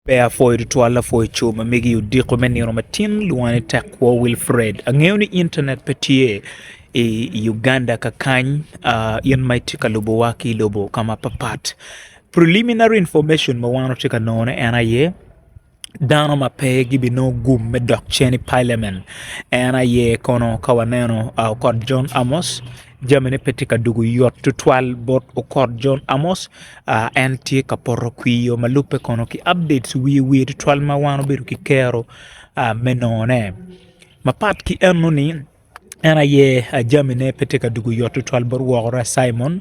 Pe apwoyo tutwal lapwony co ma megi odiko me nino matin lwonge ni Tekwo Wilfred. Angeyo ni internet pe tye i Uganda kakany in ma itye ka lubo wa ki lobo ka ma pat pat preliminary information ma wan watye ka nongo ne en aye dano ma pe gi bi nongo gum me dok cen i parliament en aye kono ka waneno Okot John Amos jamine pe tye ka dwogo yot tutwal bot okot John Amos, en tye ka poto kwir i yo ma lubbe kono ki updates wiye wiye tutwal ma wan obedo ki kero me nongone mapat ki enoni en aye jamine pe tye ka dwogo yot tutwal bot wokora Cimon.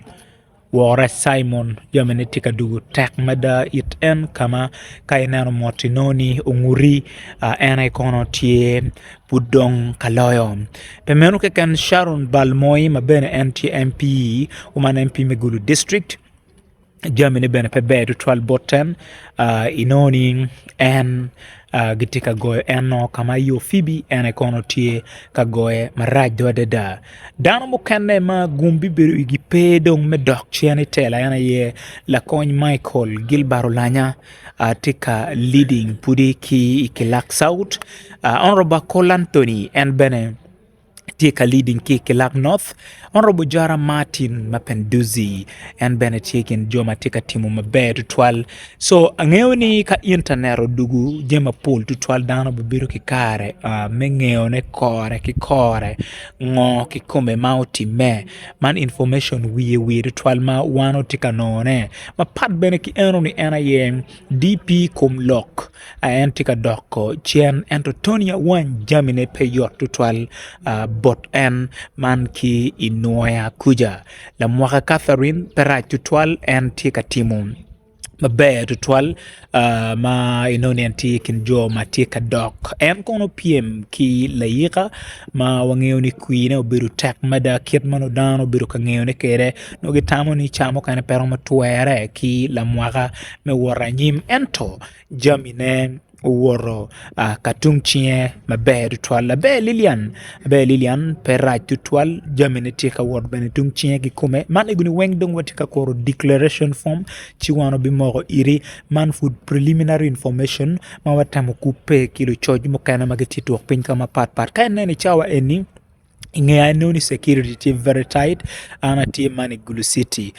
Wora Cimon, jamine tye ka dugo tek mada it en ka ma ka ineno mot inongo ni onguti, en aye kono tye pud dong ka loyo. Pe meno keken Sharon Balmoi ma bene en tye MP, man MP me Gulu district jamine bene pe ber tutwal bot en inongo ni en gitye ka goyo en nongo ka ma i opibi en aye kono tye ka goye maraco adada. Dano mukene ma gum bibedo igi pe dong me dok cen i tela en aye lakony Michael Gilbert Olanya tye ka leading pwodi ki i kilak South, Honourable Akola Anthony en bene tye ka leading ki i kilak North, Honourable Ojara Martin ma Penduzi en bene tye i kin jo ma tye ka timo maber tutwal. So angeyo ni ka internet odugu jami mapol tutwal dano bibedo ki kare me ngeyone kore ki kore ngo kikome ma otime man information wiye wi tutwal ma wan watye ka nongo ne mapat bene ki eno ni en aye DP kom lok en tye ka dok cen ento Tony Awany jamine pe yot tutwal bot en man ki i nwoya kuca. Lamwaka Catherine pe rac tutwal en tye ka timo maber tutwal ma inongo ni en tye i kin jo ma tye ka dok en kono pyem ki layika ma wangeyo ni kwine obedo tek mada kit ma nongo dano obedo ka ngeyone kwede nongo gitamo ni ca mukene pe romo twere ki lamwaka me wot anyim ento jamine owoto ka tung cinge maber tutwal laber Lilian laber Lilian pe rac tutwal jamine tye ka wot bene tung cinge ki kome man egoni weng dong watye ka kuru declaration form ci wan wabimoko iri man pud preliminary information ma watemo kubbe ki lucoc mukene ma gitye tuk piny ka mapat pat ka ineno i cawa eni I nge anongo ni security tye very tight an atye man i gulu city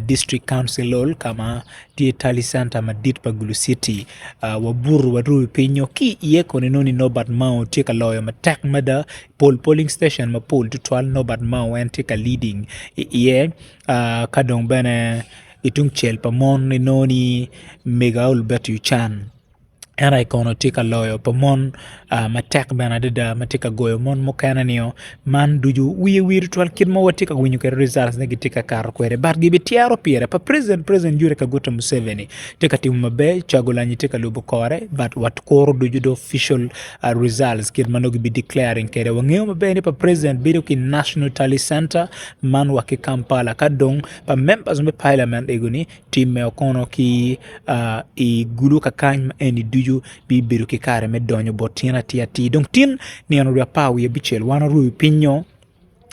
district council hall ka ma tye tali center madit pa gulu city wabuto warumo pinynyo ki iye koni nongo ni Nobert Mao tye ka loyo matek mada pol polling station mapol tutwal Nobert Mao en tye ka leading iye ka dong bene ki tungcel pa mon inongo ni mega Albert Ochan. en aye kono tye ka loyo pa mon matek bene adada ma tye ka goyo mon mukene nio man ducu wiye wi tutwal kit ma watye ka winyo kwede rizaltgi ma gitye ka kato kwede bat gibityero pire pa president president Yoweri Kaguta Museveni tye ka timo maber Cagulanyi tye ka lubo kore bat wakuru ducu the official rizalts kit ma nongo kibi declaring kwede wangeyo maber ni pa president bedo ki National Tally Center man wa ki Kampala ka dong pa members me Parliament egoni tim meno kono ki i gulu kakany ma eni ducu bibedo ki kare me donyo bot tyen atir atir dong tin nino dwe apar wiye abicel wan orwo i piny nyo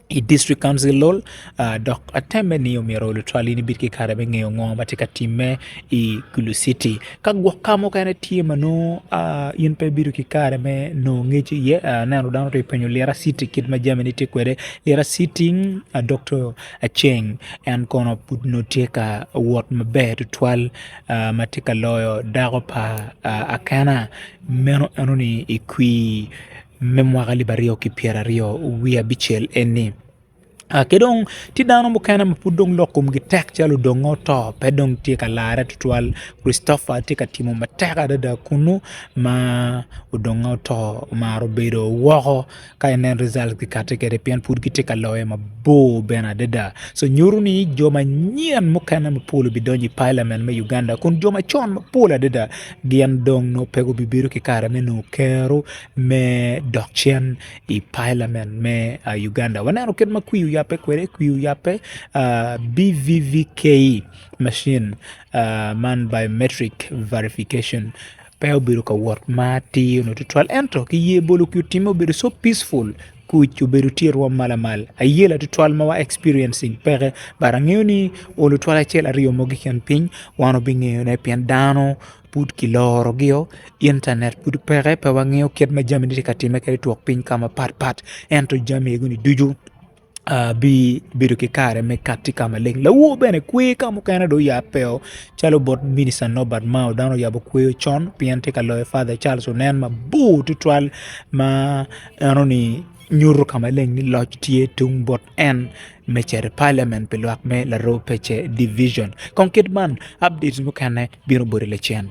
i dictrik kauncil lol dok atemme ni omyero lutwal in ibed ki kare me ngeyo ngo ma tye ka timme i gulu citi ka gwok ka mukene tye ma nongo in pe ibedo ki kare me nongo ngec iye aneno dano tye ka penyo lira citi kit ma jamine tye kwede lira citi doktor aceng en kono pud nongo tye ka wot maber tutwal ma tye ka loyo dako pa akena meno enoni i kwir me mwaka alip aryo ki pyera aryo wiye abicel eni ki dong tye dano mukene ma pud dong lok komgi tek calo odongo oto pe dong tye ka larre tutwal Christopher tye ka timo matek adada kunu ma odongo oto omaro bedo woko. Ka inen results gikate kwede pien pud gitye ka loyo mabor bene adada. So nyuto ni jo manyen mukene mapol obidonyo i parliament me Uganda kun jo macon mapol adada gin dong nongo pe gubibedo ki kare me nongo kero me dok cen i parliament me Uganda. Waneno kit ma kwi oyabbe kwede, kwi oyabbe BVVKE machine man biometric verification Pe obedo ka wot ma atir nyo tutwal ento ki ye bolo ki otimme obedo so peaceful kuc obedo tye i rwom ma lamal a year lawal tutwal ma wa experiencing peke but angeyo ni oo lutwal acel aryo mogo keken piny wan wabingeyo ne pien dano pud ki loro gi o internet pud peke pe wangeyo kit ma jami ne tye ka time kadi twok piny ka ma pat pat ento jami eni ducu abibedo ki kare me katti ka maleng lawo bene kwe ka mukene dong yat pe oo calo bot minita Nobert Mao dano oyabo kweyo con pien tye ka loyo Father Charles onen mabor tutwal ma eno ni nyuto ka maleng ni loc tye tung bot en me cito i Parliament pi lwak me Laroo pece Division kong kit man updates mukene bino boti lacen.